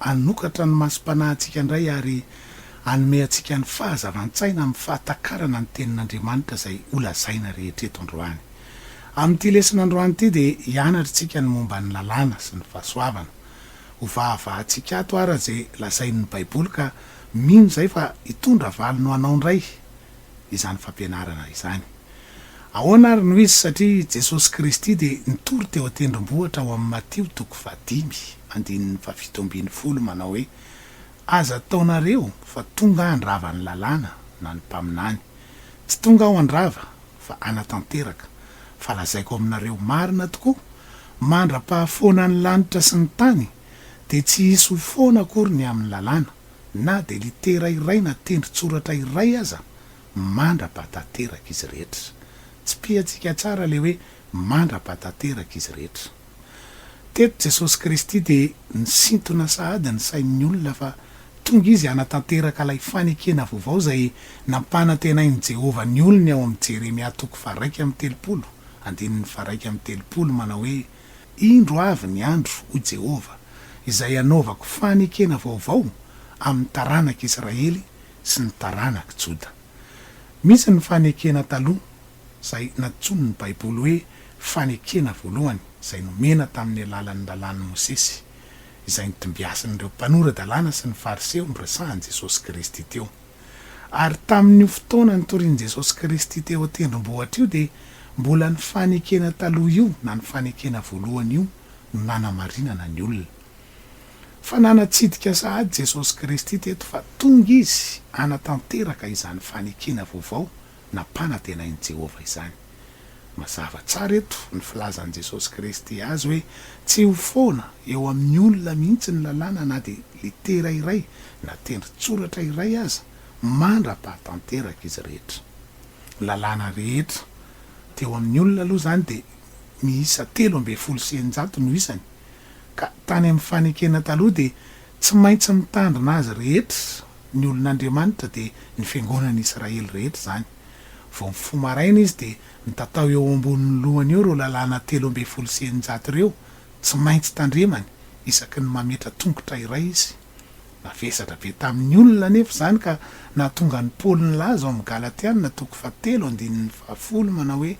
Hanokatra ny masom-panahintsika indray ary hanome antsika ny fahazavan-tsaina amin'ny fahatakarana ny Tenin'Andriamanitra izay holazaina rehetra eto androany. Amin'ity lesona androany ity dia hianatra isika ny momba ny lalàna sy ny fahasoavana. Hovahavahantsika ato àry izay lazain'ny Baiboly ka mino izay fa hitondra valiny ho anao indray izany fampianarana izany. Ahoana ary no izy? Satria i Jesosy Kristy dia nitory teo an-tendrombohitra ao amin'ny Matio toko fahadimy, andininy fahafito ambin'ny folo manao hoe, Aza ataonareo fa tonga handrava ny lalàna na ny mpaminany. Tsy tonga aho handrava, fa hanatanteraka. Fa lazaiko aminareo marina tokoa, mandra-pahafoana ny lanitra sy ny tany, dia tsy hisy ho foana akory ny amin'ny lalàna, na dia litera iray na tendron-tsoratra iray aza mandra-pa tanteraka izy rehetra. Tsipihantsika tsara ilay hoe mandra-pa tanteraka izy rehetra. Teto Jesosy Kristy dia nisintona sahady ny sain'ny olona fa tonga Izy hanatanteraka ilay fanekena vaovao izay nampanantenain'i Jehovah ny olony ao amin'ny Jeremia toko faharaika amby telopolo, andininy faharaika amby telopolo, manao hoe, Indro avy ny andro, hoy Jehovah, izay hanaovako fanekena vaovao amin'ny taranak'i Israely sy ny taranak'i Joda. Misy ny fanekena taloha, izay nantsoin'ny Baiboly hoe fanekena voalohany, izay nomena tamin'ny alalan'ny Lalàn'i Mosesy, izay nitombiasin'ireo mpanora-dalàna sy ny Fariseo niresahan'i Jesosy Kristy teo. Ary tamin'io fotoana nitorian'i Jesosy Kristy teo an-tendrombohitra io dia mbola ny fanekena taloha io na ny fanekena voalohany io no nanamarinana ny olona. Fa nanatsidika sahady Jesosy Kristy teto fa tonga Izy hanatanteraka izany fanekena vaovao nampanantenain'i Jehovah izany. Mazava tsara eto ny filazan'i Jesosy Kristy azy hoe tsy ho foana eo amin'ny olona mihitsy ny Lalàna na dia litera iray na tendrin-tsoratra iray aza mandra-pahatanteraka izy rehetra. Ny Lalàna rehetra teo amin'ny olona aloha izany dia miisa telo ambin'ny folo sy eninjato no isany, ka tany amin'ny Fanekena Taloha dia Tsy maintsy mitandrina azy rehetra ny olon'Andriamanitra dia ny fiangonan'i Israely rehetra izany. Vao mifoha maraina izy dia mitatao eo ambonin'ny lohany eo ireo lalàna telo ambin'ny folo sy eninjato ireo tsy maintsy tandremany isaky ny mametra tongotra iray izy. Navesatra be tamin'ny olona anefa izany ka nahatonga an'i Paoly nilaza ao amin'ny Galatiana toko fahatelo andininy fahafolo manao hoe,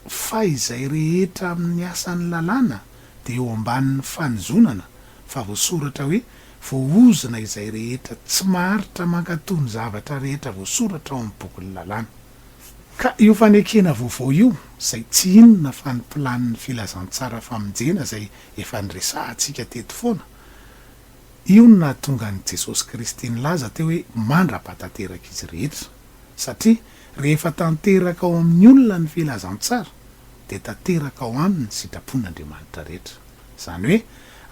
fa izay rehetra amin'ny asan'ny lalàna dia eo ambanin'ny fanozonana, fa voasoratra hoe, Voaozona izay rehetra tsy maharitra mankatò ny zavatra rehetra voasoratra ao amin'ny bokin'ny lalàna. Ka io fanekena vaovao io, izay tsy inona fa ny planin'ny filazantsara famonjena izay efa niresahantsika teto foana, io no nahatonga an'i Jesosy Kristy nilaza teo hoe, Mandra-pahatateraka izy rehetra. satria rehefa tanteraka ao amin'ny olona ny filazantsara dia tanteraka ao aminy ny sitrapon'Andriamanitra rehetra. Izany hoe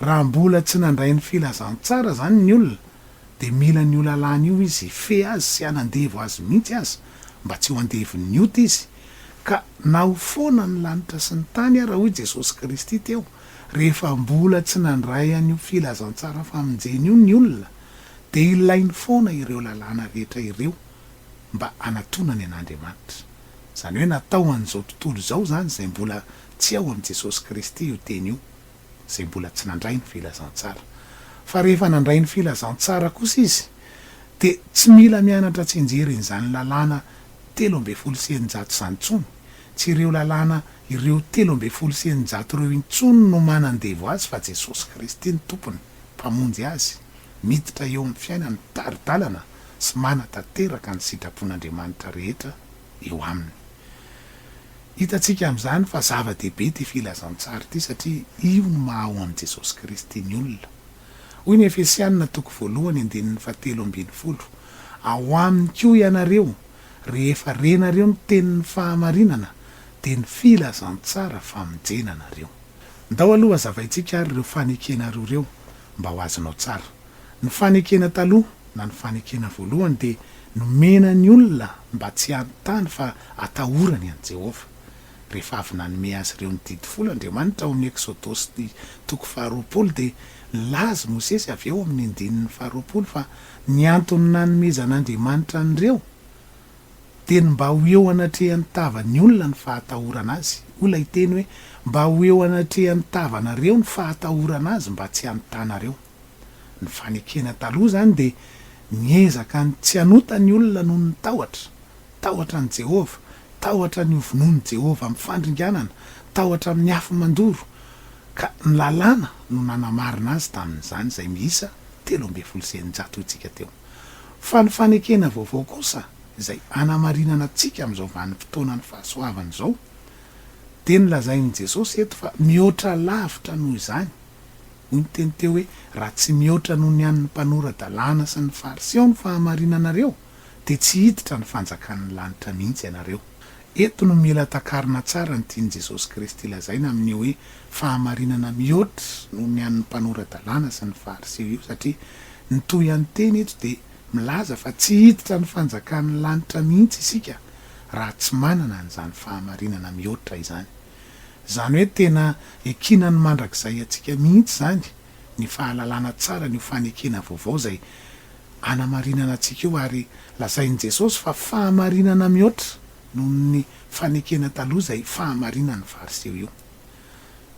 raha mbola tsy nandray ny filazantsara izany ny olona dia mila an'io lalàna io izy hifehy azy sy hanandevo azy mihitsy aza mba tsy ho andevon'ny ota izy ka na ho foana ny lanitra sy ny tany ara hoy Jesosy Kristy teo rehefa mbola tsy nandray an'io filazantsara famonjena io ny olona dia ilainy foana ireo lalàna rehetra ireo mba hanatonany an'Andriamanitra. Izany hoe natao ho an'izao tontolo izao izany izay mbola tsy ao amin'i Jesosy Kristy io teny io, izay mbola tsy nandray ny filazantsara. Fa rehefa nandray ny filazantsara kosa izy dia tsy mila mianatra tsy enjerin'izany lalàna telo ambin'ny folo sy eninjato izany intsony. Tsy ireo lalàna ireo telo ambin'ny folo sy eninjato ireo intsony no manandevo azy fa Jesosy Kristy ny tompony. Mpamonjy azy, miditra eo amin'ny fiainany mpitari-dalana sy manatanteraka ny sitrapon'Andriamanitra rehetra eo aminy. Hitantsika amin'izany fa zava-dehibe ity filazantsara ity satria io no maha ao an'i Jesosy Kristy ny olona. Hoy ny Efesianina toko voalohany andininy fahatelo ambin'ny folo, Ao aminy koa ianareo, rehefa renareo ny tenin'ny fahamarinana, dia ny filazantsara famonjena anareo. Ndao aloha hazavaintsika ary ireo fanekena roa ireo mba ho azonao tsara. Ny fanekena taloha na ny fanekena voalohany dia nomena ny olona mba tsy hanontany fa hatahorany an'i Jehovah. Rehefa avy nanome azy ireo ny didy folo Andriamanitra ao amin'ny Eksodosy toko faharoapolo, dia nilaza i Mosesy avy eo amin'ny andininy faharoapolo fa ny antony nanomezan'Andriamanitra an'ireo Dia ny mba ho eo anatrehan'ny tavan'ny olona ny fahatahorana azy, hoy ilay teny hoe, mba ho eo anatrehan'ny tavanareo ny fahatahorana azy mba tsy hanotanareo. Ny fanekena taloha izany dia niezaka ny tsy hanota ny olona noho ny tahotra, tahotra an'i Jehovah, tahotra ny hovonoin'i Jehovah amin'ny fandringanana, tahotra amin'ny afo mandoro, ka ny Lalàna no nanamarina azy tamin'izany, izay miisa telo ambin'ny folo sy eninjato hoy isika teo. Fa ny fanekena vaovao kosa izay anamarinana antsika amin'izao vanim-potoanan'ny fahasoavana izao, dia ny lazain'i Jesosy eto fa mihoatra lavitra noho izany, hoy ny teny teo hoe raha tsy mihoatra noho ny an'ny mpanora-dalàna sy ny Fariseo ny fahamarinanareo, dia tsy hiditra ny fanjakan'ny lanitra mihitsy ianareo. Eto no mila takarina tsara ny tian'i Jesosy Kristy lazaina amin'io hoe fahamarinana mihoatra noho ny an'ny mpanora-dalàna sy ny Fariseo io, satria ny tohan-teny eto dia milaza fa tsy hiditra ny fanjakan'ny lanitra mihitsy isika raha tsy manana an'izany fahamarinana mihoatra izany. Izany hoe tena ekinany mandrakizay antsika mihitsy izany ny fahalalana tsara an'io fanekena vaovao izay hanamarinana antsika io ary lazain'i Jesosy fa fahamarinana mihoatra noho ny fanekena taloha izay fahamarinan'ny Fariseo io.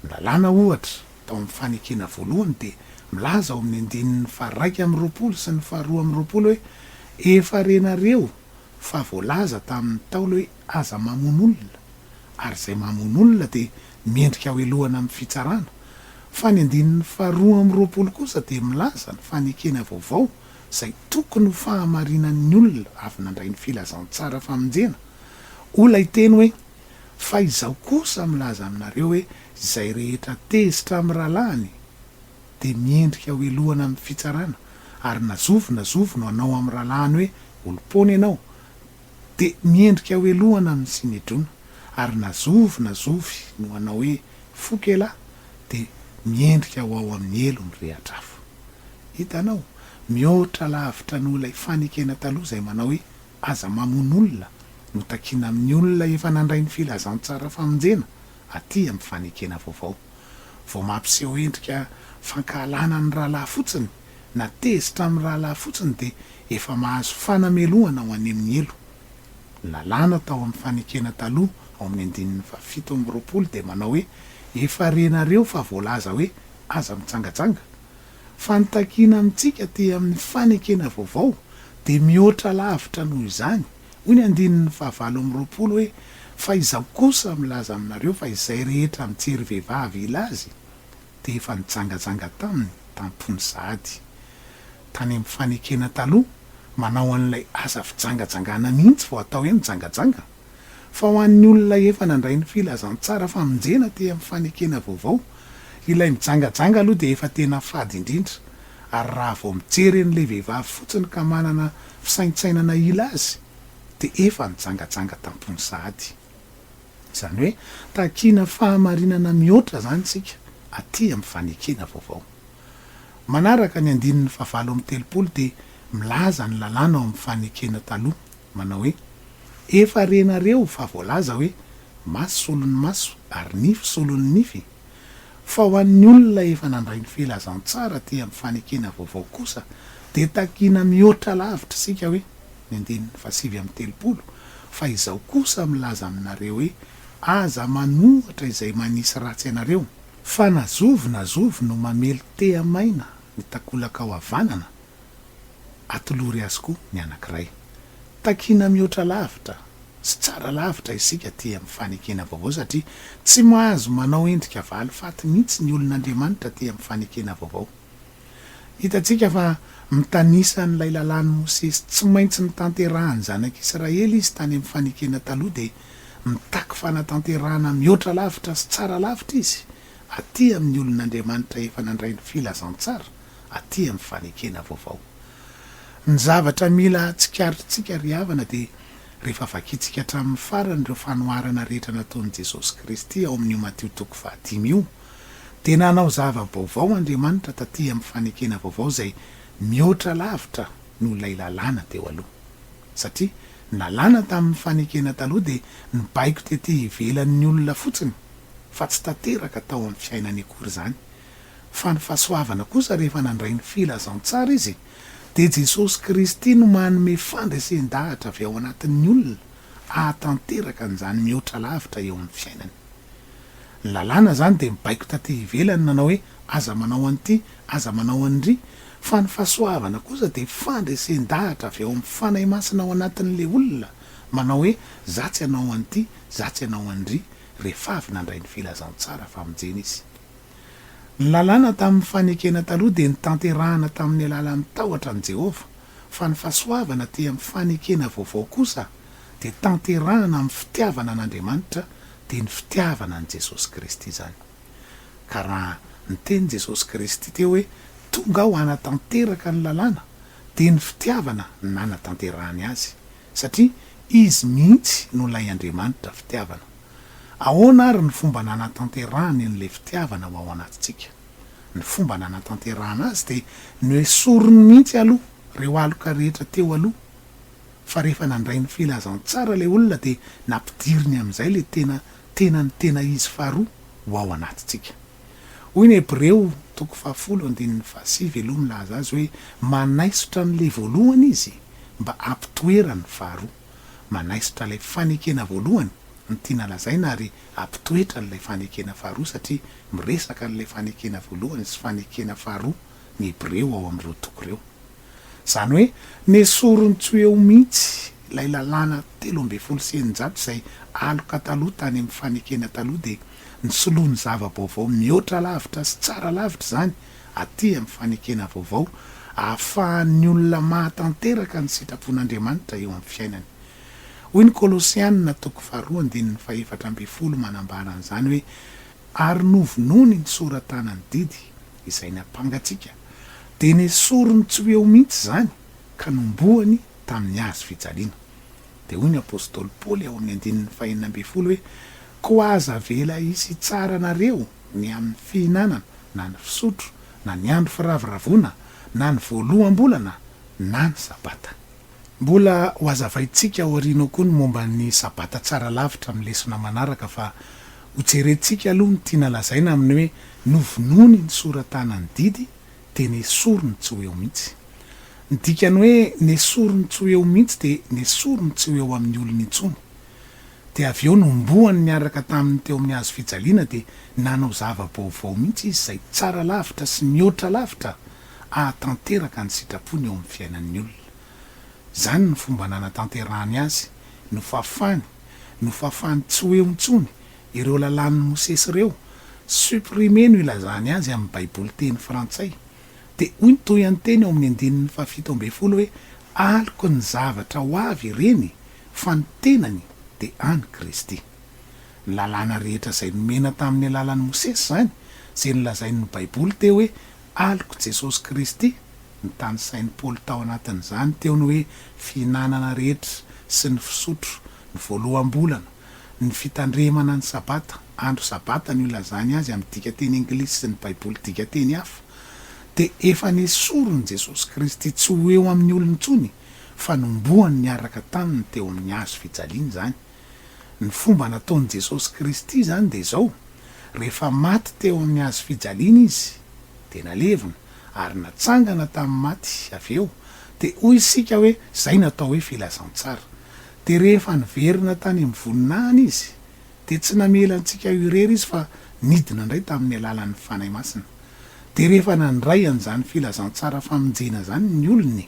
Ny Lalàna ohatra tao amin'ny fanekena voalohany dia milaza ao amin'ny andininy faharaika amby roapolo sy ny faharoa amby roapolo hoe, Efa renareo fa voalaza tamin'ny Ntaolo hoe, Aza mamono olona, ary izay mamono olona dia mendrika hohelohana amin'ny fitsarana. Fa ny andininy faharoa amby roapolo kosa dia milaza ny fanekena vaovao izay tokony ho fahamarinan'ny olona avy nandray ny filazantsara famonjena. Hoy ilay teny hoe, Fa izaho kosa milaza aminareo hoe izay rehetra tezitra amin'ny rahalahiny dia mendrika hohelohana amin'ny fitsarana, ary na zovy na zovy no hanao amin'ny rahalahiny hoe olom-poana ianao, dia miendrika hoelohana amin'ny Synedrona, ary na zovy na zovy no hanao hoe foko elah dia miendrika ho ao amin'ny helo ny rehatra hafa. Hitanao? Mihoatra lavitra noho ilay fanekena taloha izay manao hoe aza mamono olona notakina amin'ny olona efa nandray ny filazantsara famonjena aty amin'ny fanekena vaovao. vao mampiseho endrika fankahalana ny rahalahy fotsiny na tezitra amin'ny rahalahy fotsiny dia efa mahazo fanamelohana ho an'hemy helo. Ny lalàna tao amin'ny fanekena taloha ao amin'ny andininy fahafito amby roapolo dia manao hoe efa renareo fa voalaza hoe aza mitsangajanga. Fa ny takiana amintsika aty amin'ny fanekena vaovao dia mihoatra lavitra noho izany. Hoy ny andininy fahavalo amby roapolo hoe, Fa Izaho kosa milaza aminareo fa izay rehetra mijery vehivavy hila azy, dia efa nijangajanga taminy tam-pony sahady. Tany amin'ny fanekena taloha, manao an'ilay asa fijangajangana mihitsy vao atao hoe mijangajanga. Fa ho an'ny olona efa nandray ny filazantsara famonjena tey amin'ny fanekena vaovao, ilay mijangajanga aloha dia efa tena fady indrindra, ary raha vao mijery an'ilay vehivavy fotsiny ka manana fisaintsainana hila azy dia efa nijangajanga tam-pony sahady. Izany hoe takiana fahamarinana mihoatra izany isika aty amin'ny fanekena vaovao. Manaraka ny andininy fahavalo amby telopolo dia milaza ny lalàna ao amin'ny fanekena taloha, manao hoe, Efa renareo fa voalaza hoe, Maso solon'ny maso ary nify solon'ny nify, Fa ho an'ny olona efa nandray ny filazantsara aty amin'ny fanekena vaovao kosa dia takiana mihoatra lavitra isika hoe, ny andininy fahasivy amby telopolo, fa izaho kosa milaza aminareo hoe, aza manohatra izay manisy ratsy anareo, fa na zovy na zovy no mamely tehamaina ny takolaka ao havanana, atolory azy koa ny anankiray. Takiana mihoatra lavitra sy tsara lavitra isika aty amin'ny fanekena vaovao satria tsy mahazo manao endrika valifaty mihitsy ny olon'Andriamanitra aty amin'ny fanekena vaovao. Hitantsika fa mitanisa an'ilay lalàn'i Mosesy tsy maintsy notanterahan'ny zanak'Israely izy tany amin'ny fanekena taloha dia mitaky fanatanterahana mihoatra lavitra sy tsara lavitra izy aty amin'ny olon'Andriamanitra efa nandray ny filazantsara, aty amin'ny fanekena vaovao. Ny zavatra mila tsikaritrintsika ry havana dia rehefa vakintsika hatramin'ny farany ireo fanoharana rehetra nataon'i Jesosy Kristy ao amin'io Matio toko fahadimy io, dia nanao zava-baovao Andriamanitra taty amin'ny fanekena vaovao izay mihoatra lavitra noho ilay lalàna teo aloha. Satria ny lalàna tamin'ny fanekena taloha dia nibaiko tety ivelan'ny olona fotsiny, fa tsy tanteraka tao amin'ny fiainany akory izany, fa ny fahasoavana kosa rehefa nandray ny filazantsara izy, dia Jesosy Kristy no manome fandresen-dahatra avy ao anatin'ny olona hahatanteraka an'izany mihoatra lavitra eo amin'ny fiainany. Ny lalàna izany dia mibaiko taty ivelany nanao hoe aza manao an'ity, aza manao an'iry, fa ny fahasoavana kosa dia fandresen-dahatra avy ao amin'ny Fanahy Masina ao anatin'ilay olona manao hoe za tsy hanao an'ity, za tsy hanao an'iry, rehefa avy nandray ny filazantsara famonjena izy. Ny Lalàna tamin'ny fanekena taloha dia notanterahina tamin'ny alalan'ny tahotra an'i Jehovah, fa ny fahasoavana aty amin'ny fanekena vaovao kosa dia tanterahina amin'ny fitiavana an'Andriamanitra, dia ny fitiavana an'i Jesosy Kristy izany. Ka raha niteny Jesosy Kristy teo hoe, Tonga aho hanatanteraka ny Lalàna, dia ny fitiavana no nanatanterahany azy. Satria Izy mihitsy no ilay Andriamanitra fitiavana. Ahoana àry ny fomba nanatanterahany an'ilay fitiavana ho ao anatintsika? Ny fomba nanatanterahana azy dia noesoriny mihitsy aloha ireo aloka rehetra teo aloha. Fa rehefa nandray ny filazantsara ilay olona dia nampidiriny amin'izay ilay tena tenany tena izy faharoa ho ao anatintsika. Hoy ny Hebreo toko fahafolo andininy fahasivy aloha milaza azy hoe manaisotra an'ilay voalohany izy mba hampitoerany ny faharoa. Manaisotra ilay fanekena voalohany ny tiana lazaina ary hampitoetra an'ilay fanekena faharoa satria miresaka an'ilay fanekena voalohany sy fanekena faharoa ny Hebreo ao amin'ireo toko ireo. Izany hoe nesoriny tsy ho eo mihitsy ilay lalàna telo ambin'ny folo sy eninjato izay aloka taloha tany amin'ny fanekena taloha dia nisoloany zava-baovao mihoatra lavitra sy tsara lavitra izany aty amin'ny fanekena vaovao ahafahan'ny olona mahatanteraka ny sitrapon'Andriamanitra eo amin'ny fiainany. Hoy ny Kolosianina toko faharoa andininy fahefatra ambin'ny folo manambara an'izany hoe ary novonoiny ny sora-tanan'ny didy izay nampangatsiaka, dia nesoriny tsy ho eo mihitsy izany ka nombohany tamin'ny hazo fijaliana. Dia hoy ny apostoly Paoly ao amin'ny andininy fahenina ambin'ny folo hoe, Koa aza avela hisy hitsara anareo ny amin'ny fihinanana, na ny fisotro, na ny andro firavoravoana, na ny voaloham-bolana, na ny sabata. Mbola hohazavaintsika aoriana ao koa ny momba ny Sabata tsara lavitra amin'ny lesona manaraka fa hojerentsika aloha ny tiana lazaina amin'ny hoe novonoiny nisoratana ny didy dia nesoriny tsy ho eo mihitsy. Ny dikany hoe nesoriny tsy ho eo mihitsy dia nesoriny tsy ho eo amin'ny olony intsony. Dia avy eo nombohany niaraka taminy teo amin'ny hazo fijaliana dia nanao zava-baovao mihitsy izy izay tsara lavitra sy mihoatra lavitra hahatanteraka ny sitrapony eo amin'ny fiainan'ny olona. Izany no fomba nanatanterahany azy, nofafany, nofafany tsy ho eo intsony ireo lalàn'i Mosesy ireo, supprimer no ilazany azy amin'ny Baiboly teny frantsay. Dia hoy ny tohanteny ao amin'ny andininy fahafito ambin'ny folo hoe, Aloky ny zavatra ho avy ireny, fa ny tenany dia an'i Kristy. Ny lalàna rehetra izay nomena tamin'ny alalan'i Mosesy izany, izay nolazain'ny Baiboly teo hoe Alok'i Jesosy Kristy, notanisain'i Paoly tao anatin'izany teo ny hoe fihinanana rehetra sy ny fisotro, ny voaloham-bolana, ny fitandremana ny Sabata, andro Sabata no ilazany azy amin'ny dikanteny anglisy sy ny Baiboly dikanteny hafa, dia efa nesorin'i Jesosy Kristy tsy ho eo amin'ny olona intsony, fa nombohany niaraka taminy teo amin'ny hazo fijaliana izany. Ny fomba nataon'i Jesosy Kristy izany dia izao, rehefa maty teo amin'ny hazo fijaliana Izy, dia nalevina, ary natsangana tamin'ny maty avy eo, dia hoy isika hoe izay no atao hoe filazantsara. Dia rehefa niverina tany amin'ny voninahiny Izy, dia tsy namela antsika eo irery Izy fa nidina indray tamin'ny alalan'ny Fanahy Masina. Dia rehefa nandray an'izany filazantsara famonjena izany ny olony,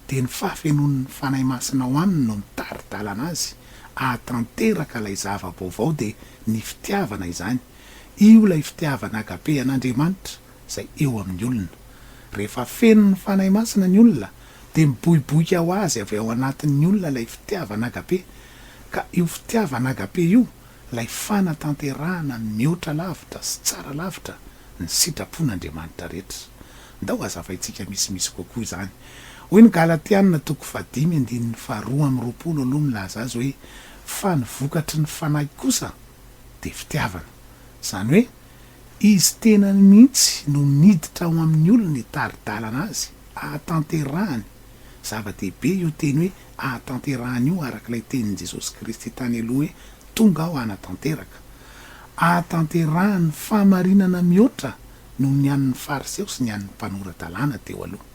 dia ny fahafenoan'ny Fanahy Masina ao aminy no mitari-dalana azy hahatanteraka ilay zava-baovao dia ny fitiavana izany, io ilay fitiavana agape an'Andriamanitra izay eo amin'ny olona. Rehefa feno ny Fanahy Masina ny olona dia miboiboika ho azy avy ao anatin'ny olona ilay fitiavana agape, ka io fitiavana agape io ilay fanatanterahana mihoatra lavitra sy tsara lavitra ny sitrapon'Andriamanitra rehetra. Ndao hazavaintsika misimisy kokoa izany. Hoy ny Galatiana toko fahadimy andininy faharoa amby roapolo aloha milaza azy hoe, Fa ny vokatry ny Fanahy kosa dia fitiavana. Izany hoe, izy tenany mihitsy no miditra ao amin'ny olony hitari-dalana azy hahatanterahany. Zava-dehibe io teny hoe hahatanterahany io araka ilay tenin'i Jesosy Kristy tany aloha hoe, Tonga aho hanatanteraka. Hahatanterahany fahamarinana mihoatra noho ny an'ny Fariseo sy ny an'ny mpanora-dalàna teo aloha.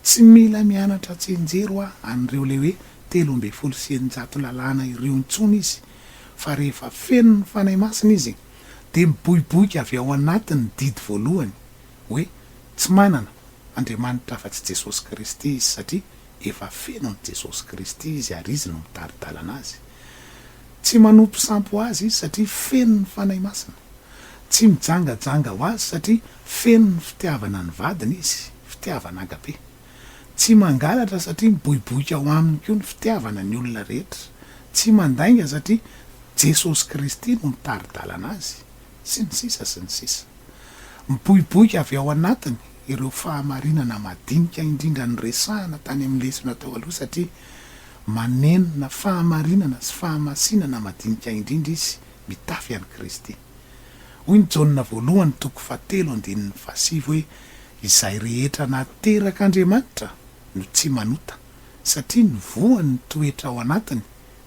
Tsy mila mianatra an-tsenjery hoa an'ireo ilay hoe telo ambin'ny folo sy eninjato lalàna ireo intsony izy, fa rehefa feno ny Fanahy Masina izy, dia miboiboika avy ao anatiny ny didy voalohany, hoe tsy manana Andriamanitra afa-tsy Jesosy Kristy izy, satria Efa feno an'i Jesosy Kristy izy ary Izy no mitari-dalana azy. Tsy manompo sampy ho Azy izy satria feno ny Fanahy Masina. Tsy mijangajanga ho Azy satria feno ny fitiavana ny vadiny izy, fitiavana agape. Tsy mangalatra satria miboiboika ao aminy koa ny fitiavana ny olona rehetra. Tsy mandainga satria Jesosy Kristy no mitari-dalana azy. Sy ny sisa sy ny sisa. Miboiboika avy ao anatiny. ireo fahamarinana madinika indrindra noresahana tany amin'ny lesona tao aloha satria manenina fahamarinana sy fahamasinana madinika indrindra izy mitafy an'i Kristy. Hoy ny Jaona voalohany toko fahatelo andininy fahasivy hoe izay rehetra naterak'Andriamanitra no tsy manota satria ny voany ny toetra ao anatiny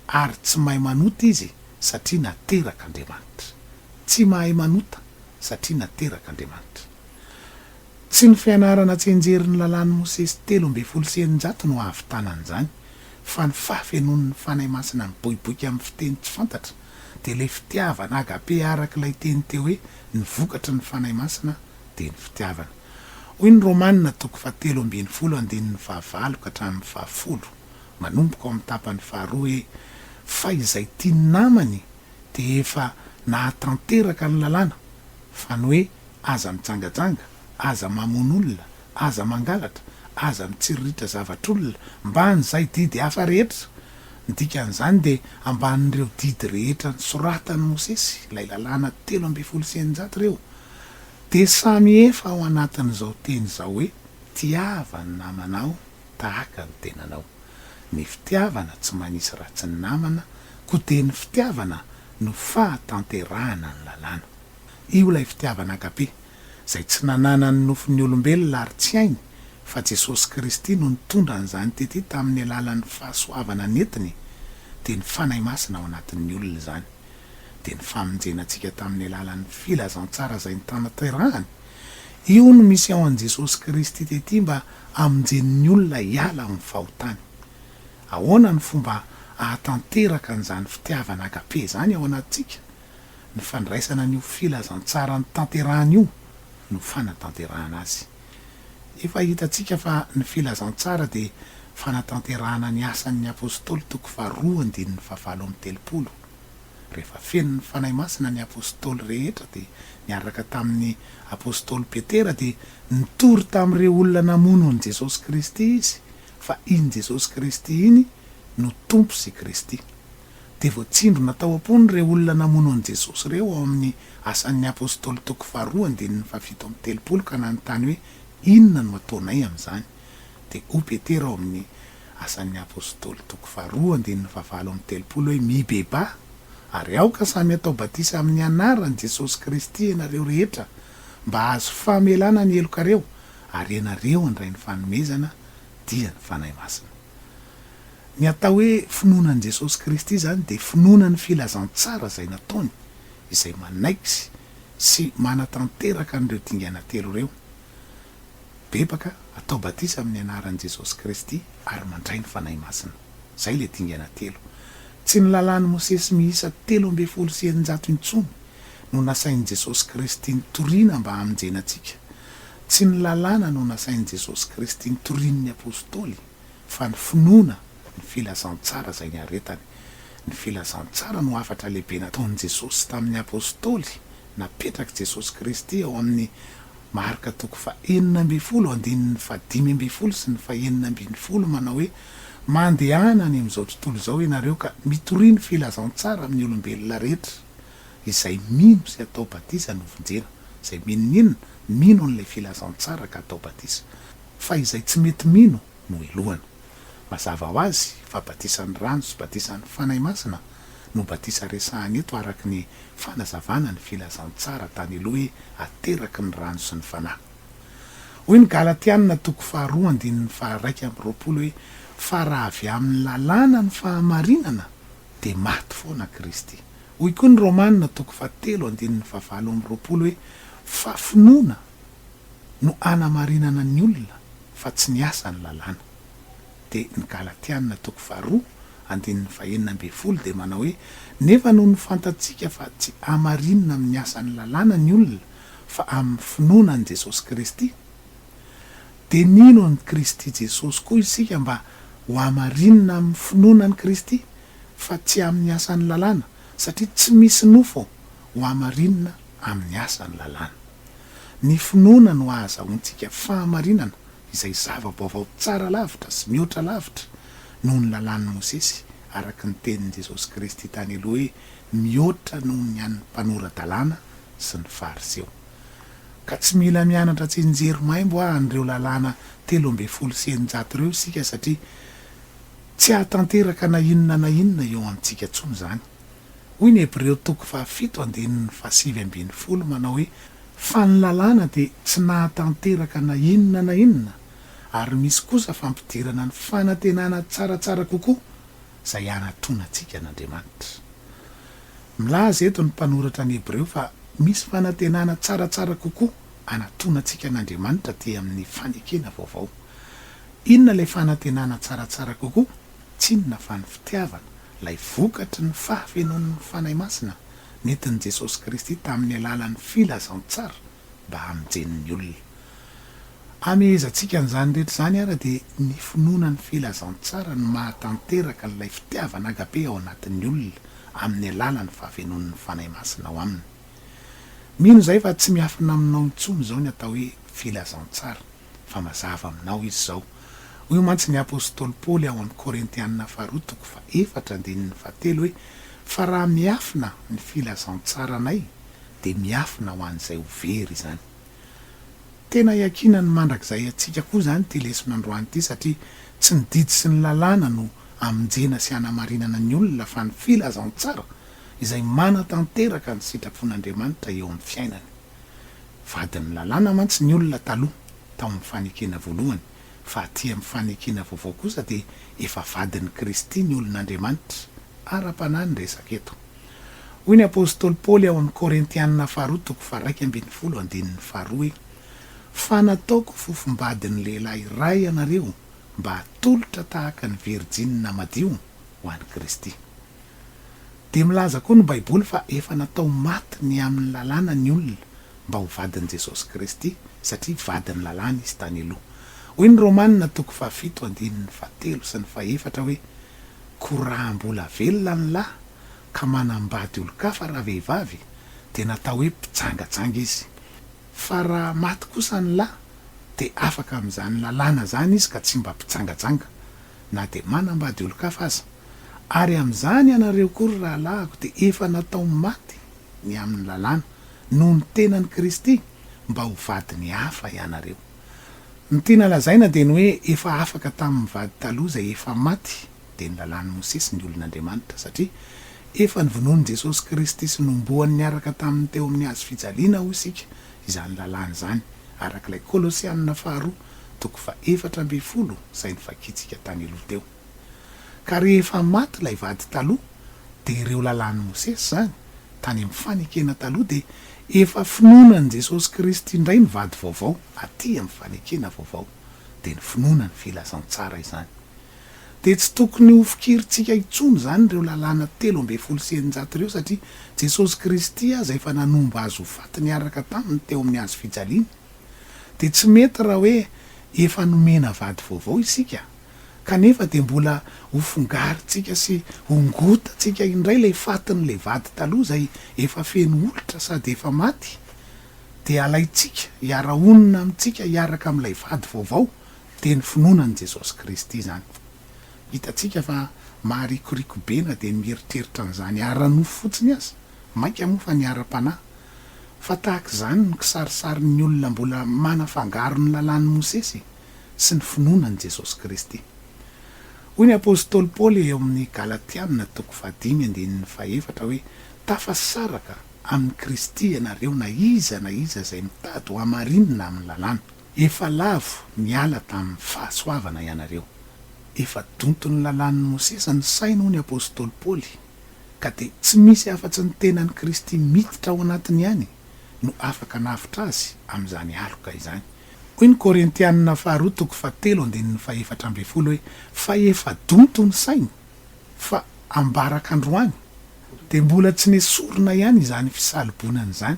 ary tsy mahay manota izy satria naterak'Andriamanitra. Tsy mahay manota satria naterak'Andriamanitra. Tsy ny fianarana tsy enjery ny lalàn'i Mosesy telo ambin'ny folo sy eninjato no hahavitana an'izany, fa ny fahafenoan'ny Fanahy Masina miboiboika amin'ny fiteny tsy fantatra, dia ilay fitiavana, a ga'pe, araka ilay teny teo hoe ny vokatry ny Fanahy Masina dia ny fitiavana. Hoy ny Romana toko fahatelo ambin'ny folo andininy fahavalo ka hatramin'ny fahafolo, manomboka ao amin'ny tapany faharoa hoe, Fa izay tia ny namany dia efa nahatanteraka ny lalàna fa ny hoe aza mijangajanga, aza mamono olona, aza mangalatra, aza mitsiriritra zavatr'olona mban'izay didy hafa rehetra. Ny dikan'izany dia ambanin'ireo didy rehetra nosoratan'i Mosesy, ilay lalàna telo ambin'ny folo sy eninjato ireo, dia samy efa ao anatin'izao teny izao hoe, Tiava ny namanao. tahaka ny tenanao. Ny fitiavana tsy manisy ratsy namana koa dia ny fitiavana no fahatanterahana ny lalàna. Io ilay fitiavana agape izay tsy nananan'ny nofon'ny olombelona ary tsy hainy fa Jesosy Kristy no nitondra an'izany tety tamin'ny alalan'ny fahasoavana nentiny dia ny Fanahy Masina ao anatin'ny olona izany dia ny famonjena antsika tamin'ny alalan'ny filazantsara izay nitanterahany Io no misy ao an'i Jesosy Kristy tety mba hamonjeny ny olona hiala amin'ny fahotany. Ahoana no fomba ahatanteraka an'izany fitiavana agape izany ao anatintsika? Ny fandraisana an'io filazantsara notanterahany io no fanatanterahana azy. Efa hitantsika fa ny filazantsara dia fanatanterahana ny Asan'ny Apostoly toko faharoa andininy fahafalo amby telopolo. Rehefa feno ny Fanahy Masina ny Apostoly rehetra dia niaraka tamin'ny Apostoly Petera dia nitory tamin'ireo olona namono an'i Jesosy Kristy izy fa iny Jesosy Kristy iny no Tompo sy Kristy. Dia voatsindrona tao am-pony ireo olona namono an'i Jesosy ireo ao amin'ny Asan'ny Apostoly toko faharoa andininy fahafito amby telopolo ka nanontany hoe inona no ataonay amin'izany? Dia hoy Petera ao amin'ny Asan'ny Apostoly toko faharoa andininy fahavalo amby telopolo hoe mibebaha ary aoka samy atao batisa amin'ny anaran'i Jesosy Kristy ianareo rehetra mba hahazo famelana ny helokareo ary ianareo handray ny fanomezana dia ny Fanahy Masina. Ny atao hoe finoana an'i Jesosy Kristy izany dia finoana ny filazantsara izay nataony izay manaiky sy manatanteraka an'ireo dingana telo ireo bebaka atao batisa amin'ny anaran'i Jesosy Kristy ary mandray ny Fanahy Masina. Izay ilay dingana telo. Tsy ny lalàn'i Mosesy miisa telo ambin'ny folo sy eninjato intsony no nasain'i Jesosy Kristy nitoriana mba hamonjena antsika. Tsy ny lalàna no nasain'i Jesosy Kristy nitorian'ny Apostoly fa ny finoana ny filazantsara izay niaretany. Ny filazantsara no hafatra lehibe nataon'i Jesosy tamin'ny Apostoly. Napetrak'i Jesosy Kristy ao amin'ny. Marka toko fahenina ambin'ny folo andininy fahadimy ambin'ny folo sy ny fahenina ambin'ny folo manao hoe, Mandehana any amin'izao tontolo izao ianareo ka mitoria ny filazantsara amin'ny olombelona rehetra. Izay mino sy atao batisa no vonjena. Izay minoninona, mino an'ilay filazantsara ka atao batisa. Fa izay tsy mety mino no helohana. Mazava ho azy fa batisan'ny rano sy batisan'ny Fanahy Masina no batisa resahana eto araka ny fanazavana ny filazantsara tany aloha hoe ateraky ny rano sy ny Fanahy. Hoy ny Galatiana toko faharoa andininy faharaika amby roapolo hoe fa raha avy amin'ny lalàna ny fahamarinana dia maty foana Kristy. Hoy koa ny Romana toko fahatelo andininy fahavalo amby roapolo hoe fa finoana no hanamarinana ny olona fa tsy ny asa ny lalàna. Dia ny Galatiana toko faharoa andininy fahenina ambin'ny folo dia manao hoe, Nefa nony fantatsika fa tsy hamarinina amin'ny asa ny lalàna ny olona fa amin'ny finoana an'i Jesosy Kristy, dia nino an'i Kristy Jesosy koa isika mba ho hamarinina amin'ny finoana an'i Kristy fa tsy amin'ny asa ny lalàna, satria tsy misy nofo ho hamarinina amin'ny asa ny lalàna. Ny finoana no ahazahoantsika fahamarinana izay zava-baovao tsara lavitra sy mihoatra lavitra noho ny lalàn'i Mosesy, araka ny tenin'i Jesosy Kristy tany aloha hoe, Mihoatra noho ny an'ny mpanora-dalàna sy ny Fariseo. Ka tsy mila mianatra tsinjery maimbo a an'ireo lalàna telo ambin'ny folo sy eninjato ireo isika satria tsy hahatanteraka na inona na inona eo amintsika intsony izany. Hoy ny Hebreo toko fahafito andininy fahasivy ambin'ny folo manao hoe, Fa ny lalàna dia tsy nahatanteraka na inona na inona, ary misy kosa fampidirana ny fanantenana tsaratsara kokoa izay hanatronantsika an'Andriamanitra. Milaza eto ny mpanoratra ny Hebreo fa misy fanantenana tsaratsara kokoa hanatronantsika an'Andriamanitra aty amin'ny fanekena vaovao. Inona ilay fanantenana tsaratsara kokoa? Tsinona fa ny fitiavana, ilay vokatry ny fahafenoan'ny Fanahy Masina nentin'i Jesosy Kristy tamin'ny alalan'ny filazantsara mba hamonjeny ny olona. Hamehezantsika an'izany rehetra izany àry dia ny finoana ny filazantsara no mahatanteraka an'ilay fitiavana agape ao anatin'ny olona amin'ny alalan'ny fahafenoan'ny Fanahy Masina ao aminy. Mino izahay fa tsy miafina aminao intsony izao ny atao hoe filazantsara. fa mazava aminao izy izao. Hoy mantsy ny apostoly Paoly ao amin'ny Korintianina faharoa toko fahaefatra andininy fahatelo hoe, Fa raha miafina ny filazantsaranay, dia miafina ho an'izay ho very izany. Tena iankinan'ny mandrakizay antsika koa izany ity leson'androany ity, satria tsy ny didy sy ny lalàna no hamonjena sy hanamarinana ny olona, fa ny filazantsara izay manatanteraka ny sitrapon'Andriamanitra eo amin'ny fiainany. Vadin'ny lalàna mantsy ny olona taloha, tao amin'ny fanekena voalohany, fa aty amin'ny fanekena vaovao kosa dia efa vadin'i Kristy ny olon'Andriamanitra ara-panahy ny resaka eto. Hoy ny apostoly Paoly ao amin'ny Korintiana faharoa toko faharaika ambin'ny folo andininy faharoa hoe, Fa nataoko fofom-badin'ny lehilahy iray ianareo mba hatolotra tahaka ny virjinina madio ho an'i Kristy. Dia milaza koa ny Baiboly fa efa natao maty ny amin'ny lalàna ny olona mba ho vadin'i Jesosy Kristy, satria vadin'ny lalàna izy tany aloha. Hoy ny Romana toko fahafito andininy fahatelo sy ny fahefatra hoe, Koa raha mbola velona ny lahy ka manambady olon-kafa ravehivavy, dia natao hoe mpijangajanga izy. Fa raha maty kosa ny lahy, dia afaka amin'izany lalàna izany izy ka tsy mba mpijangajanga, na dia manambady olon-kafa aza. Ary amin'izany ianareo koa, ry rahalahiko, dia efa natao maty ny amin'ny lalàna, noho ny tenan'i Kristy, mba ho vadiny hafa ianareo. Ny tiana lazaina dia ny hoe efa afaka tamin'ny vady taloha izay efa maty, dia ny lalàn'i Mosesy, ny olon'Andriamanitra, satria efa novonoin'i Jesosy Kristy sy nombohany niaraka taminy teo amin'ny hazo fijaliana hoy isika izany lalàna izany, araka ilay Kolosianina faharoa toko fahefatra ambin'ny folo izay novakiantsika tany aloha teo. Ka rehefa maty ilay vady taloha dia ireo lalàn'i Mosesy izany tany amin'ny fanekena taloha dia efa finoana an'i Jesosy Kristy indray ny vady vaovao aty amin'ny fanekena vaovao dia ny finoana ny filazantsara izany dia tsy tokony ho fikirintsika intsony izany ireo lalàna telo ambin'ny folo sy eninjato ireo satria Jesosy Kristy aza efa nanomba azy ho faty niaraka taminy teo amin'ny hazo fijaliana dia tsy mety raha hoe efa nomena vady vaovao isika kanefa dia mbola ho fongarintsika sy hongotantsika indray ilay fatin'ilay vady taloha izay efa feno olitra sady efa maty, dia alaintsika hiara-honina amintsika hiaraka amin'ilay vady vaovao, dia ny finoana an'i Jesosy Kristy izany. Hitantsika fa maharikoriko be na dia ny mieritreritra an'izany ara-nofo fotsiny aza, mainka moa fa ny ara-panahy. Fa tahaka izany ny kisarisarin'ny olona mbola manafangaro ny Lalàn'i Mosesy e! sy ny finoana an'i Jesosy Kristy. Hoy ny apostoly Paoly eo amin'ny Galatiana toko fahadimy andininy fahefatra hoe, Tafasaraka amin'i Kristy ianareo na iza na iza izay mitady ho hamarinina amin'ny lalàna. Efa lavo niala tamin'ny fahasoavana ianareo. Efa donton'ny lalàn'i Mosesy ny sainy hoy ny apostoly Paoly, ka dia tsy misy afa-tsy ny tenan'i Kristy miditra ao anatiny ihany no afaka hanavotra azy amin'izany aloka izany. Hoy ny Korintianina faharoa toko fahatelo andininy fahefatra ambin'ny folo hoe, Fa efa donto ny sainy, fa ambaraka androany, dia mbola tsy nesorina ihany izany fisalobonana izany,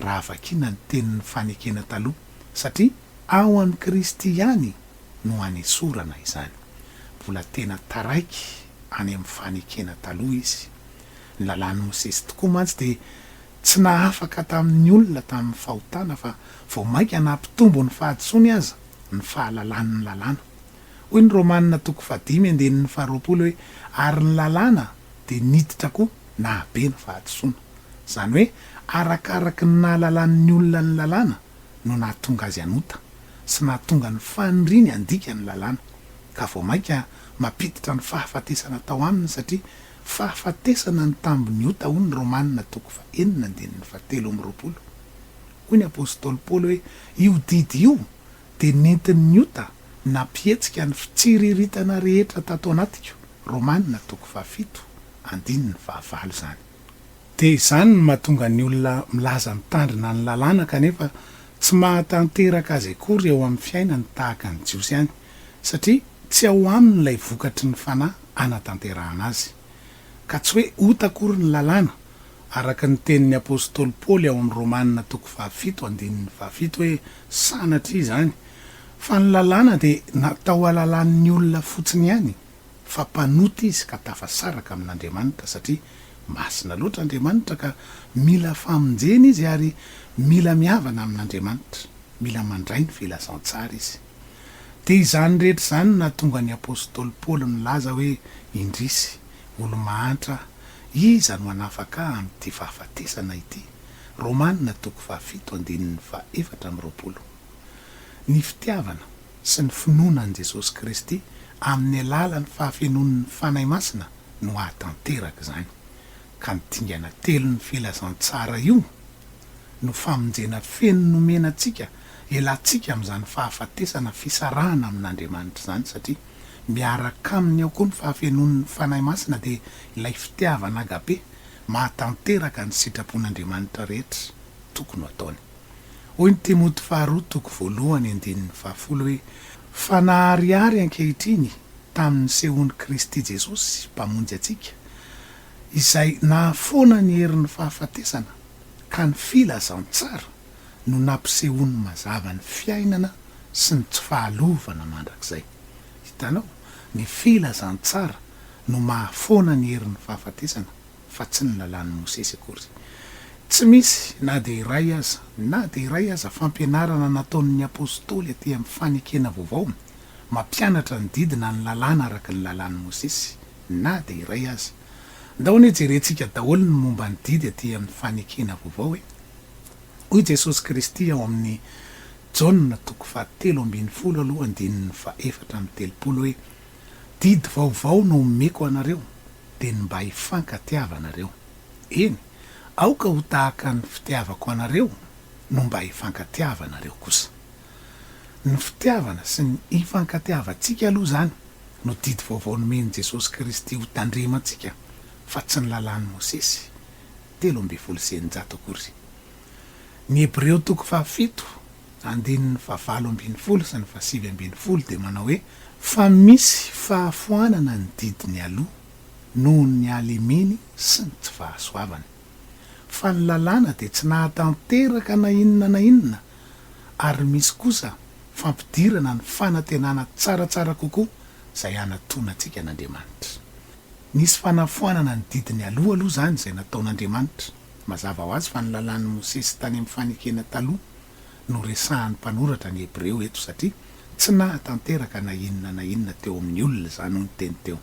raha vakiana ny tenin'ny fanekena taloha, satria ao amin'i Kristy ihany no anesorana izany. Mbola tena taraiky any amin'ny fanekena taloha izy. Ny lalàn'i Mosesy tokoa mantsy dia Tsy nahafaka tamin'ny olona tamin'ny fahotana fa vao mainka nampitombo ny fahadisoany aza ny fahalalany ny lalàna. Hoy ny Romana toko fahadimy andininy faharoapolo hoe ary ny lalàna dia niditra koa nahabe ny fahadisoana. Izany hoe arakaraky ny nahalalan'ny olona ny lalàna no nahatonga azy hanota sy nahatonga ny faniriany handika ny lalàna ka vao mainka mampiditra ny fahafatesana tao aminy satria Fahafatesana ny tambin'ny ota hoy ny Romana toko faha enina andininy faha telo amby roapolo. Hoy ny apostoly Paoly hoe io didy io dia nentin'ny ota nampihetsika ny fitsiriritana rehetra tato anatiko, Romana toko faha fito andininy faha valo izany. Dia izany no mahatonga ny olona milaza mitandrina ny lalàna kanefa tsy mahatanteraka azy akory eo amin'ny fiainany tahaka ny Jiosy ihany. satria tsy ao aminy ilay vokatry ny Fanahy hanatanterahana azy. Ka tsy hoe ota akory ny lalàna, araka ny tenin'ny apostoly Paoly ao amin'ny Romana toko fahafito andininy fahafito hoe sanatria izany, fa ny lalàna dia natao halalan'ny olona fotsiny ihany, fa mpanota izy ka tafasaraka amin'Andriamanitra satria masina loatra Andriamanitra ka mila famonjena izy ary mila mihavana amin'Andriamanitra, mila mandray ny filazantsara izy. Dia izany rehetra izany no nahatonga ny apostoly Paoly nilaza hoe, Indrisy, olo-mahantra, iza no hanafaka ahy amin'ity fahafatesana ity? Romana toko fahafito andininy fahefatra amby roapolo. Ny fitiavana sy ny finoana an'i Jesosy Kristy amin'ny alalan'ny fahafenoan'ny Fanahy Masina no hahatanteraka izany. ka ny dingana telon'ny filazantsara io no famonjena feno nomena antsika, elantsika amin'izany fahafatesana fisarahana amin'Andriamanitra izany satria miaraka aminy ao koa ny fahafenoan'ny Fanahy Masina dia ilay fitiavana agape mahatanteraka ny sitrapon'Andriamanitra rehetra tokony ho ataony. Hoy ny Timoty faharoa toko voalohany andininy fahafolo hoe, Fa naharihary ankehitriny tamin'ny sehoan'i Kristy Jesosy Mpamonjy antsika izay nahafoana ny herin'ny fahafatesana ka ny filazantsara no nampisehoany mazava ny fiainana sy ny tsy fahalovana mandrakizay. Hitanao? Ny filazantsara no mahafoana ny herin'ny fahafatesana fa tsy ny lalàn'i Mosesy akory. Tsy misy na dia iray aza, na dia iray aza fampianarana nataon'ny apostoly aty amin'ny fanekena vaovao mampianatra ny didy na ny lalàna araka ny lalàn'i Mosesy. na dia iray aza. Andao anie jerentsika daholo ny momba ny didy aty amin'ny fanekena vaovao e! Hoy Jesosy Kristy ao amin'ny Jaona toko fahatelo ambin'ny folo aloha andininy fahefatra amby telopolo hoe, Didy vaovao no omeko anareo, dia ny mba hifankatiava nareo. Eny, aoka ho tahaka ny fitiavako anareo no mba hifankatiava nareo kosa. Ny fitiavana sy ny hifankatiavantsika aloha izany no didy vaovao nomen'i Jesosy Kristy hotandremantsika fa tsy ny lalàn'i Mosesy telo ambin'ny folo sy eninjato akory. Ny Hebreo toko fahafito andininy fahavalo ambin'ny folo sy ny fahasivy ambin'ny folo dia manao hoe, fa misy fahafoanana ny didy nialoha noho ny halemeny sy ny tsy fahasoavany, fa ny lalàna dia tsy nahatanteraka na inona na inona ary misy kosa fampidirana ny fanantenana tsaratsara kokoa izay hanatona antsika an'Andriamanitra. Nisy fanafoanana ny didy nialoha aloha izany izay nataon'Andriamanitra. Mazava ho azy fa ny Lalàn'i Mosesy tany amin'ny Fanekena Taloha no resahan'ny mpanoratra ny Hebreo eto satria tsy nahatanteraka na inona na inona teo amin'ny olona izany hoy ny teny teo.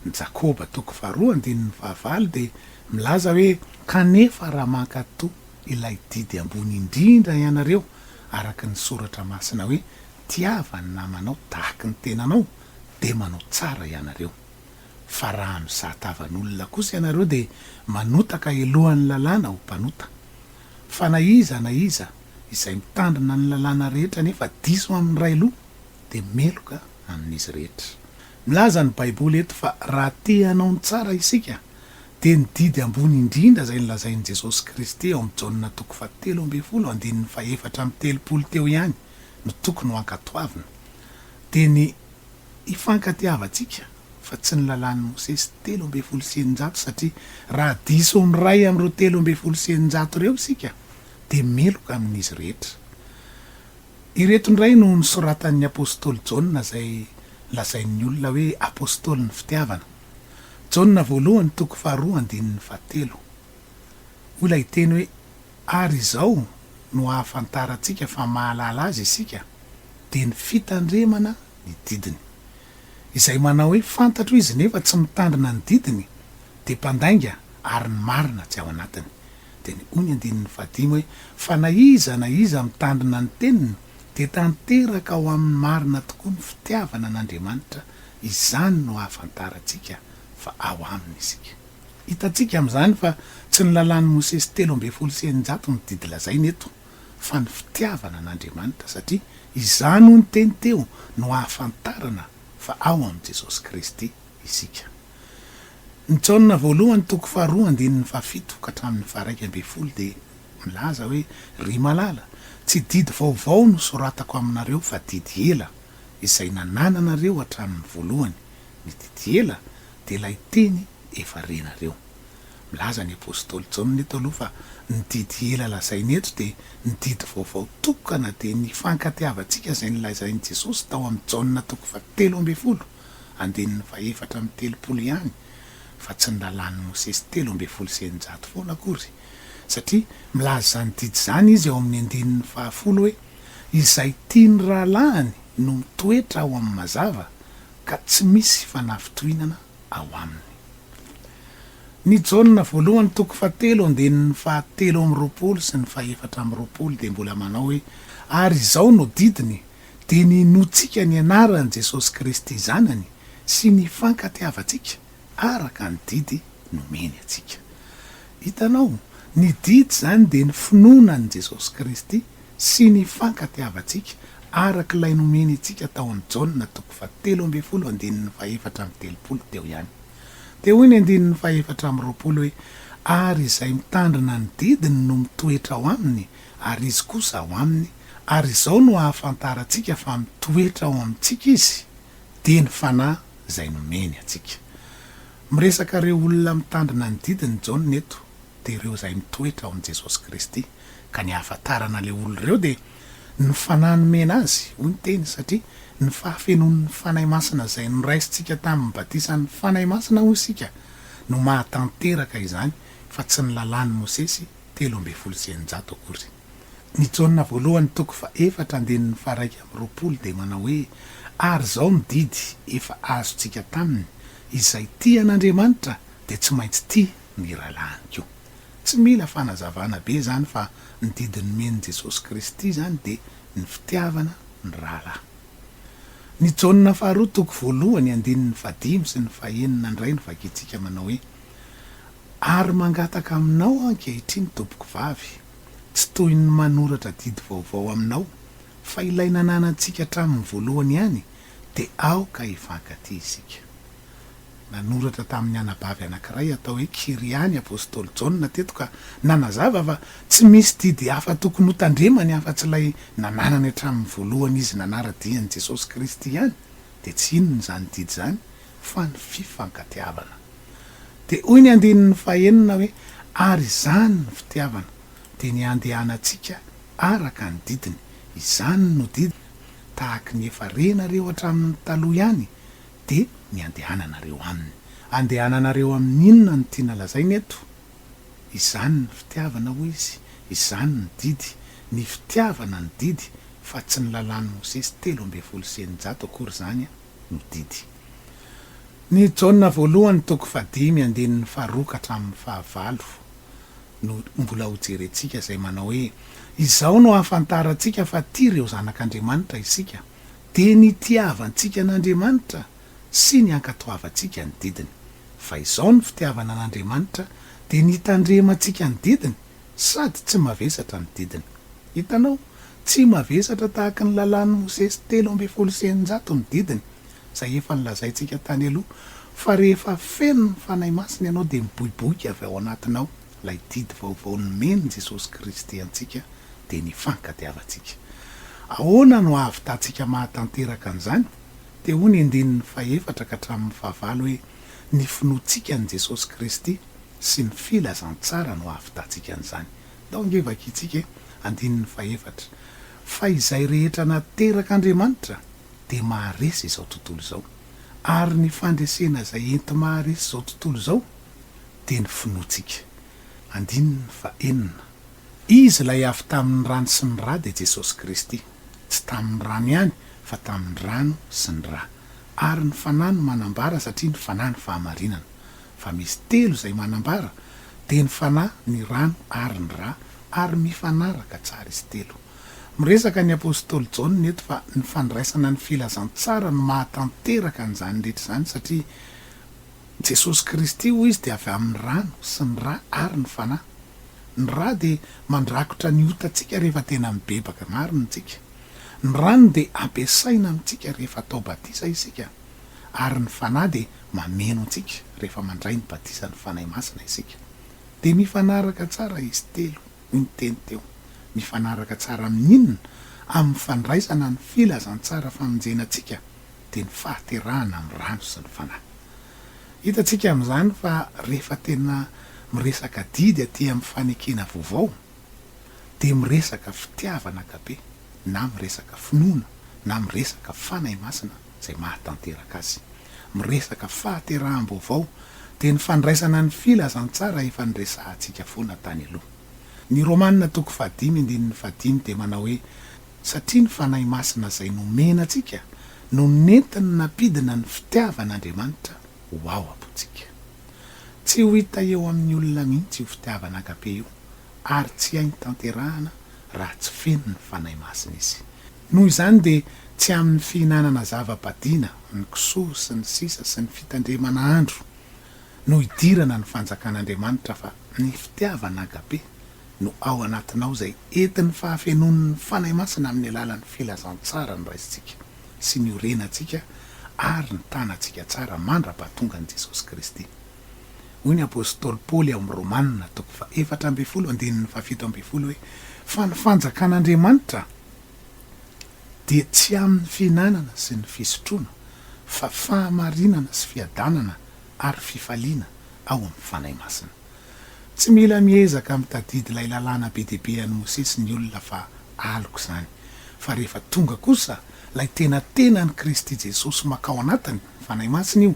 Ny Jakoba toko faharoa andininy fahavalo dia milaza hoe. Kanefa raha mankatò ilay didy ambony indrindra ianareo araka ny soratra masina hoe tiava ny namanao tahaky ny tenanao dia manao tsara ianareo fa raha mizaha tavan'olona kosa ianareo dia manotaka helohan'ny lalàna ho mpanota fa na iza na iza izay mitandrina ny lalàna rehetra nefa diso amin'ny ray loha dia meloka amin'izy rehetra milaza ny baiboly eto fa raha te hanao ny tsara isika dia ny didy ambony indrindra izay nolazain'i Jesosy Kristy ao amin'i Jaona toko fahatelo ambin'ny folo andininy fahefatra amby telopolo teo ihany no tokony ho ankatoavina, dia ny hifankatiavantsika fa tsy ny lalàn'i Mosesy telo ambin'ny folo sy eninjato satria raha diso ny iray amin'ireo telo ambin'ny folo sy eninjato ireo isika dia meloka amin'izy rehetra. Ireto indray no nosoratan'ny apostoly Jaona izay lazain'ny olona hoe apostolin'ny fitiavana. Jaona voalohany toko faharoa andininy fahatelo. Hoy ilay teny hoe ary izao no ahafantarantsika fa mahalala azy isika dia ny fitandremana ny didiny. Izay manao hoe fantatro izy nefa tsy mitandrina ny didiny dia mpandainga ary ny marina tsy ao anatiny. Dia ny hoy ny andininy fahadimy hoe fa na iza na iza mitandrina ny teniny dia tanteraka ao aminy marina tokoa ny fitiavana an'Andriamanitra Izany no ahafantarantsika fa ao Aminy isika. Hitantsika amin'izany fa tsy ny Lalàn'i Mosesy telo ambin'ny folo sy eninjato no didy lazaina eto, fa ny fitiavana an'Andriamanitra, satria izany, hoy ny teny teo, no ahafantarana fa ao amin'i Jesosy Kristy isika. Ny Jaona voalohany toko faharoa andininy fahafito ka hatramin'ny faharaika ambin'ny folo dia milaza hoe, Ry malala, tsy didy vaovao no soratako aminareo fa didy ela izay nanananareo hatramin'ny voalohany, ny didy ela, dia ilay teny efa renareo. Milaza ny apostoly Jaona eto aloha fa ny didy ela lazainy eto dia ny didy vaovao tokana dia ny fankatiavantsika izay nolazain'i Jesosy tao amin'i Jaona toko fahatelo ambin'ny folo andininy fahefatra amby telopolo ihany fa tsy ny lalàn'i Mosesy telo ambin'ny folo sy eninjato foana akory satria milaza izany didy izany izy ao amin'ny andininy fahafolo hoe izay tian'ny rahalahiny no mitoetra ao amin'ny mazava ka tsy misy fanafitohinana ao aminy. Ny Jaona voalohany toko fahatelo andininy fahatelo amby roapolo sy ny fahefatra amby roapolo dia mbola manao hoe, Ary izao no didiny, dia ny inoantsika ny anaran'i Jesosy Kristy Zanany sy ny ifankatiavantsika araka ny didy nomeny antsika. Hitanao, ny didy izany dia ny finoana an'i Jesosy Kristy sy ny hifankatiavantsika araka ilay nomeny antsika tao amin'ny Jaona toko fahatelo ambin'ny folo andininy fahefatra amby telopolo teo ihany. Dia hoy ny andininy fahefatra amby roapolo hoe, Ary izay mitandrina ny didiny no mitoetra ao aminy, ary izy kosa ao aminy, ary izao no ahafantarantsika fa mitoetra ao amintsika izy, dia ny fanahy izay nomeny antsika. Miresaka ireo olona mitandrina ny didiny Jaona eto dia ireo izay mitoetra ao amin'i Jesosy Kristy ka ny ahafantarana ilay olona ireo dia ny Fanahy nomena azy hoy ny teny satria ny fahafenoan'ny Fanahy Masina izay noraisintsika tamin'ny batisan'ny Fanahy Masina hoy isika no mahatanteraka izany fa tsy ny lalàn'i Mosesy telo ambin'ny folo sy eninjato akory. Ny Jaona voalohany toko fahefatra andininy faha-iraika amby roapolo dia manao hoe, Ary izao no didy efa azontsika taminy, izay tia an'Andriamanitra dia tsy maintsy tia ny rahalahiny koa. Tsy mila fanazavana be izany fa ny didy nomen'i Jesosy Kristy izany dia ny fitiavana ny rahalahy. Ny Jaona faharoa toko voalohany andininy fahadimy sy ny fahenina indray no vakintsika manao hoe, Ary mangataka aminao ankehitriny tompokovavy, tsy toy ny manoratra didy vaovao aminao, fa ilay nananantsika hatramin'ny voalohany ihany, dia aoka hifankatia isika. Nanoratra tamin'ny anabavy anankiray atao hoe Kyria ny apostoly Jaona teto ka nanazava fa tsy misy didy hafa tokony hotandremany afa-tsy ilay nananany hatramin'ny voalohany izy nanara-dia an'i Jesosy Kristy ihany, dia tsy inona izany didy izany? fa ny fifankatiavana. Dia hoy ny andininy fahenina hoe, Ary izany ny fitiavana, dia ny handehanantsika araka ny didiny. Izany no didiny, tahaka ny efa renareo hatramin'ny taloha ihany, dia ny handehananareo aminy. Handehananareo amin'ny inona no tiana lazaina eto? Izany ny fitiavana, hoy izy, izany ny didy, ny fitiavana ny didy, fa tsy ny lalàn'i Mosesy telo ambin'ny folo sy eninjato akory izany an! ny didy. Ny Jaona voalohany toko fahadimy andininy faharoa ka hatramin'ny fahavalo no mbola hojerentsika izay manao hoe, Izao no ahafantarantsika fa tia ireo zanak'Andriamanitra isika, dia ny itiavantsika an'Andriamanitra sy ny ankatoavantsika ny didiny. Fa izao ny fitiavana an'Andriamanitra, dia ny hitandremantsika ny didiny, Sady tsy mavesatra ny didiny. Hitanao, tsy mavesatra tahaka ny Lalàn'i Mosesy telo ambin'ny folo sy eninjato ny didiny, izay efa nolazaintsika tany aloha, fa rehefa feno ny Fanahy Masina ianao dia miboiboika avy ao anatinao ilay didy vaovao nomen'i Jesosy Kristy antsika, dia ny fankatiavantsika. Ahoana no ahavitantsika mahatanteraka an'izany? Dia hoy ny andininy fahefatra ka hatramin'ny fahavalo hoe, Ny finoantsika an'i Jesosy Kristy. sy ny filazantsara no ahavitantsika an'izany. Ndao ange vakintsika e, andininy fahefatra, Fa izay rehetra naterak'Andriamanitra dia maharesy izao tontolo izao, ary ny fandresena izay enti-maharesy izao tontolo izao dia ny finoantsika. Andininy fahenina, Izy ilay avy tamin'ny rano sy ny ra dia Jesosy Kristy, tsy tamin'ny rano ihany fa tamin'ny rano sy ny ra, ary ny Fanahy no manambara satria ny Fanahy no fahamarinana. fa misy telo izay manambara dia ny Fanahy, ny Rano ary ny Ra ary mifanaraka tsara izy telo. Miresaka ny apostoly Jaona eto fa ny fandraisana ny filazantsara no mahatanteraka an'izany rehetra izany satria Jesosy Kristy hoy izy dia avy amin'ny Rano sy ny Ra ary ny Fanahy. Ny Ra dia mandrakotra ny otantsika rehefa tena mibebaka marina isika. Ny Rano dia ampiasaina amintsika rehefa atao batisa isika ary ny Fanahy dia mameno antsika rehefa mandray ny batisan'ny Fanahy Masina isika. Dia mifanaraka tsara izy telo, hoy ny teny teo. Mifanaraka tsara amin'inona? Amin'ny fandraisana ny filazantsara famonjena antsika, dia ny fahaterahana amin'ny rano sy ny Fanahy. Hitantsika amin'izany fa rehefa tena miresaka adidy aty amin'ny fanekena vaovao, dia miresaka fitiavana agape, na miresaka finoana, na miresaka Fanahy Masina, izay mahatanteraka azy. Miresaka fahateraham-baovao dia ny fandraisana ny filazantsara efa niresahantsika foana tany aloha. Ny Romana toko fahadimy andininy fahadimy dia manao hoe, Satria ny Fanahy Masina izay nomena antsika no nentiny nampidina ny fitiavan'Andriamanitra ho ao am-pontsika. Tsy ho hita eo amin'ny olona mihitsy io fitiavana agape io ary tsy hainy tanterahana raha tsy feno ny Fanahy Masina izy. Noho izany dia tsy amin'ny fihinanana zava-badiana, ny kisoa sy ny sisa sy ny fitandremana andro no idirana ny fanjakan'Andriamanitra fa ny fitiavana agape no ao anatinao izay entin'ny fahafenoan'ny Fanahy Masina amin'ny alalan'ny filazantsara ny raisintsika sy ny orenantsika ary ny tanantsika tsara mandrapahatongan'i Jesosy Kristy. Hoy ny apostoly Paoly ao amin'ny Romana toko fahefatra ambin'ny folo andininy fahafito ambin'ny folo hoe, Fa ny fanjakan'Andriamanitra dia tsy amin'ny fihinanana sy ny fisotroana, fa fahamarinana sy fiadanana ary fifaliana ao amin'ny Fanahy Masina. Tsy mila miezaka mitadidy ilay lalàna be dia be an'i Mosesy ny olona fa aloka izany, fa rehefa tonga kosa ilay tena tenan'i Kristy Jesosy makao anatiny, Fanahy Masina io,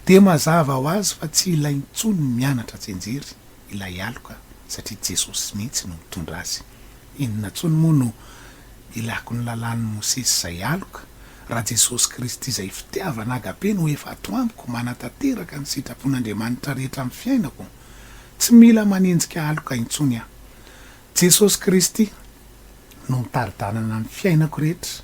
dia mazava ho azy fa tsy ilaina intsony ny mianatra tsy enjery ilay aloka satria Jesosy mihitsy no mitondra azy. Inona intsony moa no ilako ny lalàn'i Mosesy izay aloka raha Jesosy Kristy izay fitiavana agape no efa ato amiko manatanteraka ny sitrapon'Andriamanitra rehetra amin'ny fiainako? Tsy mila manenjika aloka intsony aho. Jesosy Kristy no mitari-dalana ny fiainako rehetra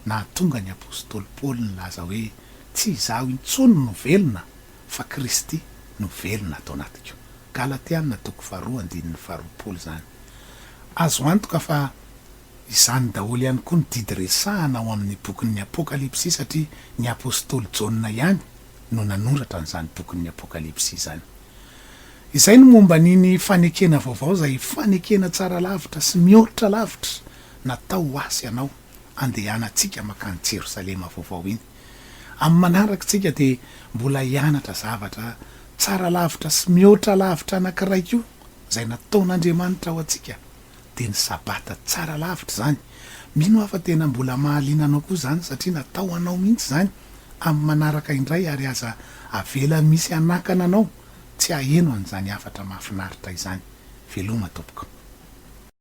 nahatonga ny apostoly Paoly nilaza hoe tsy izaho intsony no velona fa Kristy no velona ato anatiko. Galatiana toko faharoa andininy faharoapolo izany. Azo antoka fa izany daholo ihany koa ny didy resahana ao amin'ny bokin'ny Apokalypsy satria ny apostoly Jaona ihany no nanoratra an'izany bokin'ny Apokalypsy izany. Izay no momba an'iny fanekena vaovao izay fanekena tsara lavitra sy mihoatra lavitra natao ho ahy sy ianao andehanantsika makany Jerosalema vaovao iny. Amin'ny manaraka isika dia mbola hianatra zavatra tsara lavitra sy mihoatra lavitra anankiray koa izay nataon'Andriamanitra ho antsika. dia ny sabata tsara lavitra izany. Mino aho fa tena mbola mahaliana anao koa izany satria natao ho anao mihitsy izany amin'ny manaraka indray ary aza avela misy hanakana anao tsy haheno an'izany hafatra mahafinaritra izany. Veloma tompoko.